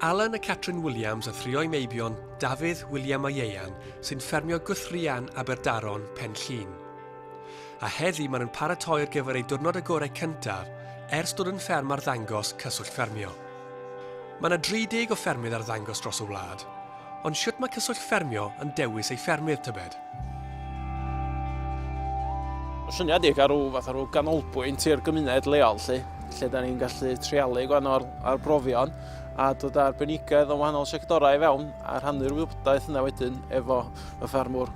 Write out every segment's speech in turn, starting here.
Alan a Catrin Williams a thrio'i meibion Dafydd, William a Ieuan sy'n ffermio Guthrian, Aberdaron, Pen Llŷn. A heddi maen nhw'n paratoi ar gyfer eu diwrnod agorau cyntaf ers dod yn fferm arddangos Cyswllt Ffermio. Mae yna 30 o ffermydd arddangos dros y wlad, Ond shwt mae Cyswllt Ffermio yn dewis ei ffermydd, tybed? Mae'n syniad i gael rhyw fath o rhyw ganolbwynt i'r gymuned leol, lle, lle da ni'n gallu treialu gwan o'r arbrofion a dod â'r benigedd o wahanol sectorau i fewn a rhannu'r wybodaeth yna wedyn efo y ffermwr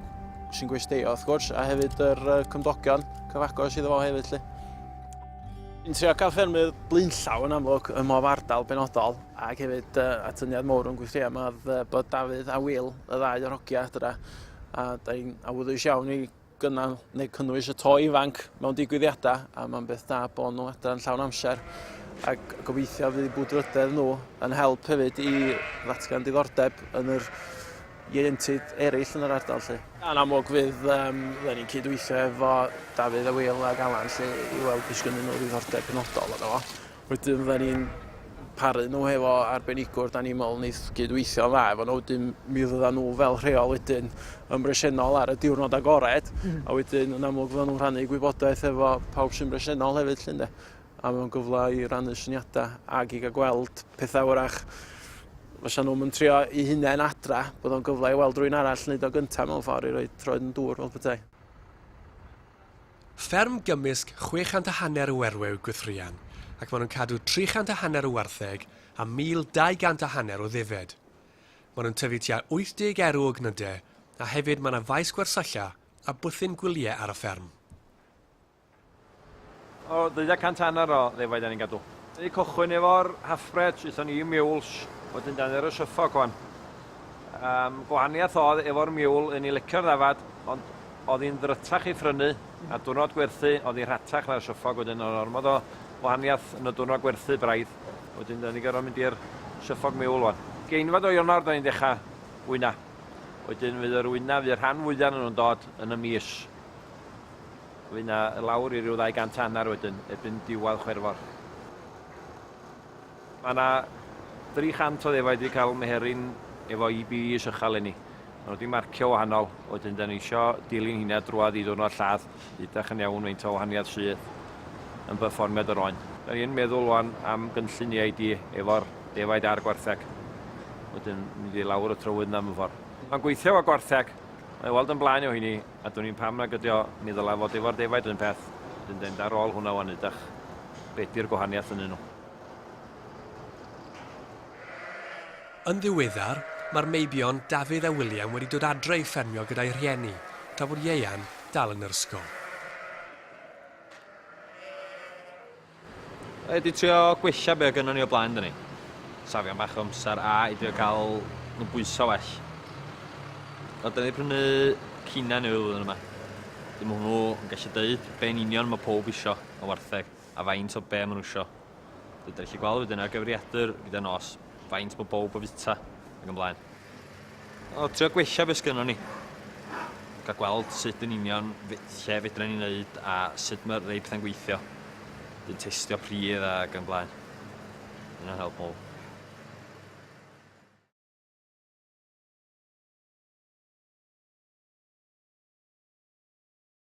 sy'n gwesteio, wrth gwrs, a hefyd yr cymdogion cyfagos iddo fo hefyd. Lle. Yn trio cael ffermydd blaenllaw yn amlwg ym mhob ardal benodol. Ac hefyd yy atyniad mowr o'n gweithreua ma odd yy bod Dafydd a Wil, y ddau o'r hogia adra, a da ni'n awyddus iawn i gynnal neu cynnwys y to ifanc mewn digwyddiada a ma'n beth da bo nhw adra yn llawn amser ac gobeithio fydd bwdfrydedd nhw yn help hefyd i ddatgan diddordeb yn yr ieuenctid ereill yn yr ardal 'lly. Yn amlwg fydd yym fydden ni'n cydweithio efo Dafydd a Wil ag Alan 'lly i weld os gynnyn nhw ddiddordeb penodol yno fo. Wedyn fydda ni'n paru nhw hefo arbenigwr da ni'n meddwl wneith gydweithio dda efo nhw, wedyn mi fydda nhw fel rheol wedyn yn bresennol ar y diwrnod agored, mm. a wedyn yn amlwg fydda nhw'n rhannu gwybodaeth efo pawb sy'n bresennol hefyd llun de. A mewn gyfle i rannu syniadau ac i gael gweld pethau wrach fysa nhw'n mynd trio i hunain adra, bod o'n gyfle i weld rwy'n arall wneud o gyntaf mewn ffordd i roi troed yn dŵr fel petai. Fferm gymysg 600 a hanner o werw yw Gwythrian, ac maen nhw'n cadw 300 a hanner o wartheg a 1,200 a hanner o ddefed. Maen nhw'n tyfu tua 80 erw o gnydau, a hefyd mae yna faes gwersylla a bwthyn gwyliau ar y fferm. O, 200 a hanner o ddefaid dan ni'n gadw. Dan ni'n cychwyn efo'r half-breds, aethon ni i Meules, wedyn dan ni ar y Suffolk wan. Yym, gwahaniath odd efo'r miwl, un i licio'r ddafad, ond odd hi'n ddrytach i phrynu, a dwrnod gwerthu odd hi rhatach na'r siwffog, wedyn odd ormod o wahaniath yn y dwrnod gwerthu braidd, wedyn da ni gorfod mynd i'r siwffog miwl wan. Ugeinfad o Ionawr da ni'n decha wyna, wedyn fydd yr wyna, fydd y rhan fwya o'nyn nhw'n dod yn y mis, fydd na lawr i ryw ddau gant a hanner wedyn, erbyn diwadd Chwerfor. Mae 'na 300 o ddefaid wedi cael meheryn efo EBEs ychal eleni. Mae nhw wedi marcio wahanol, wedyn da ni isio dilyn hynna drwad i ddiwrnod lladd, ydach yn iawn faint o wahaniaeth sydd yn berfformiad yr oen. Da ni yn meddwl wan am gynllun EID efo'r defaid a'r gwartheg, wedyn mynd i lawr y trywydd yna mewn ffordd. Mae'n gweithio efo gwartheg, mae o weld yn blaen o hynny, a dwn i'n pam nag ydy o, mi ddylai fod efo'r defaid yr un peth, wedyn da ni'n mynd ar ôl hwnna wan ydach, be di'r gwahaniaeth ynnyn nhw. Yn ddiweddar, mae'r meibion Dafydd a William wedi dod adre i ffermio gyda'u rhieni, tra bod Ieuan dal yn yr ysgol. Rhaid i trio gwella be' o' gynnon ni o blaen dyn ni. Safio bach o amser a i drio cael nhw bwyso well. O, dyn ni prynu cina newydd flwyddyn yma. Dim hwnnw yn gallu deud be'n union mae pob isio o wartheg. a faint o be ma nhw isio. Dwi wedi gallu gweld wedyn ar gyfriadur gyda nos faint bod bawb o fita ac yn blaen. O, trio gwella beth sgynnon ni. Gael gweld sut yn union lle fedra ni'n neud a sut mae rei pethau'n gweithio. Dyn testio pridd ac yn blaen. Yna'n help mowr.